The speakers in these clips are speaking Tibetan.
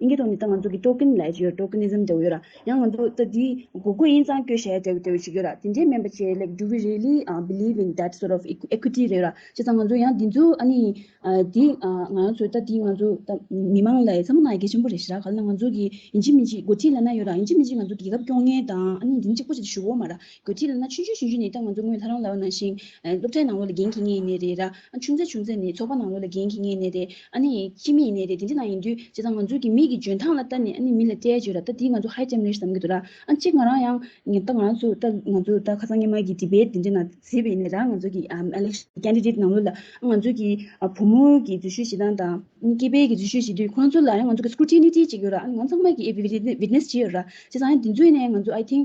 ཨིན་སྐད་ཐོག་ནས་ད་ང་ཚོ་གི་ཀྲོ་ཀིན་ལས་ཅེས་ཡོད་ཀྲོ་ཀི་ནི་ཟིམ་འདྲ་བོ་ཡོད་ར་ཡང་ང་ཚོ་ད་དེའི་གོ་དགོས་ཨིན་གཙང་སྐྱོད་ཞེས་འདྲ་བོ་ཞིག་ཡོད་ར་དེ་འདྲའི་སྨན་པ་ཆེ་ལེགས་འདྲུ་བི་རེ་ལི་བིལིབ་ཨིན་དེད་སོར་ཨོབ་ཨེཀུའི་ཏི་རེད་ར་བྱས་ཙང་ང་ཚོ་ཡང་དེ་ཚོ་ཨ་ནི་དེ་ང་ཚོ་ད་དེ་ང་ཚོ་ད་མི་མང་ལ་ཡི་ཚ་མོ་གནང་ཡི་གེ་ཆེན་པོ་རེད་ཞེས་ར་ག་ལ་ན་ང་ཚོ་གི་ཡིན་གཅིག་མིན་གཅིག་འགོ་ཁྲིད་ལ་ན་ཡོད་ར་ཡིན་གཅིག་མིན་གཅིག་ང་ཚོ་རྒྱལ་ཁབ་སྐྱོང་ངེས་དང་ཨ་ནི་འདི་ནི་གཅིག་པོ་ཆེ་ཆེ་ཞུ་བོ་མ་ར་དགོས་ཚིག་ལ་ན་ཆུང་ཆུང་ཞུ་རྒྱུ་ནི་ད་ང་ཚོ་དངུལ་ལྷ་རང་ལ་བ་ན་ཞིང། སློབ་གྲྭའི་ནང་ལོ་ལ་འགན་འཁྱི་ངེས་ཡིན་ནི་རེད་ར། ཆུང་ཚེ་ཆུང་ཚེ་ནི་ཚོགས་པ་ནང་ལོ་ལ་འགན་འཁྱི་ངེས་ནི་རེད། ཨ་ནི། ཁྱི་མི་ཡིན་ནི་རེད་དེ་འདྲི་ན་ཡིན་དུས་བྱས་ཙང་ང་ཚོའི་གི་མིག་གི་འཇོན་ཐང་ལ་ལྟ་ནི་ཨ་ནི་མི་ལ་སྐྲའི་བརྗོད་ར་ལྟ་དེ་ང་ཚོ་ཧའི་ལྕམ་རེད་བསམ་གི་འདུག་ར། གཅིག་ང་རང་ཡང། ད་ང་རང་ཚོ་ད་ང་ཚོ་ད་ཁ་སང་སྔན་མ་གི་དྲི་བའི་དེ་འདྲི་ན་ཟེར་བའི་ནི་ར་ང་ཚོ་གི་ཨ་ལེགས། ཀན་རི་རིད་ནང་ལོ་ལ་ཨ་ང་ཚོ་གི་བུ་མོ་གི་འཛུལ་ཞུས་བྱེད་སྟངས་དང། ཨ་ནི་སྐྱེས་པའི་གི་འཛུལ་ཞུས་བྱེད་དུས་ཁོང་ཚོ་ལ་ཡང་ང་ཚོ་གི་སྐུ་ཁྲི་ནི་ཁྲི་གཅིག་ཡོད་ར་ཨ་ནི་ང་ཚང་མ་གི་ཨེ་བི་བི་བི་ནེས་བྱེད་ཡོད་ར། བྱས་ཙང་ཡང་དེ་ཚོས་ནི་ང་ཚོ་ཨའི་ཐིང།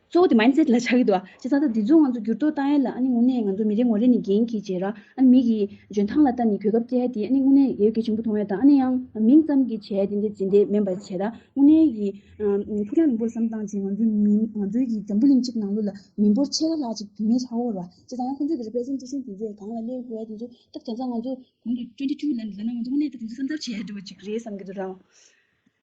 གཙོ་བོ་དེ་མཱིན་སེད་ལ་ཆགས་ཀྱི་འདུག་ཨ་ཅེ་ཙང་ད་དེ་ཚོ་ང་ཚོ་འགྱུར་ལྡོག་བཏང་ཡས་ལ་ཨ་ནི་དངོས་གནས་ང་ཚོ་མི་རེ་ངོ་རེ་ནས་འགན་གྱིས་བརྗེད་ར་ཨ་ནི་མིག་གིས་འཇོན་ཐང་ལ་ལྟ་ནས་གོས་ཁབ་བཀལ་ཏེ་ཨ་ནི་དངོས་གནས་ཡས་གེ་ཆེན་པོ་མཐོང་ཡས་དང་ཨ་ནི་ཡང་མིང་ཙམ་གྱིས་བྱས་ཏེ་འདི་བྱེད་འདི་མིན་པ་བྱེད་ར་དངོས་གནས་ཀྱིས་ཕུགས་རྒྱང་རིང་པོར་བསམ་སྟངས་ཀྱིས་ང་ཚོའི་མི་ང་ཚོའི་གྱི་འཛམ་བུ་གླིང་གཅིག་ནང་ལོ་ལ་མི་འབོར་ཕྱེད་ཀ་ལྷག་ཅིག་བུད་མེད་ཧྲ་ཧོར་བ་བྱེད་ཙང་ཡང་ཁོ་ཚོས་གི་རེ་པེ་སེམས་ཅི་བཞིན་དེ་ཚོས་གང་ལ་སླེབས་དགོས་ཡས་དེ་ཚོ་ཐབས་བྱ་ཙང་ང་ཚོ། གོང་གི་བཅུ་འདི་བཅུ་ལ་ལ་ན་ང་ཚོ་དངོས་གནས་ད་དེ་ཚོ་བསམ་ཚར་བྱས་ཡས་འགྲོ་བ་ཅིག་རེད་བསམ་གྱི་འདུག་རང།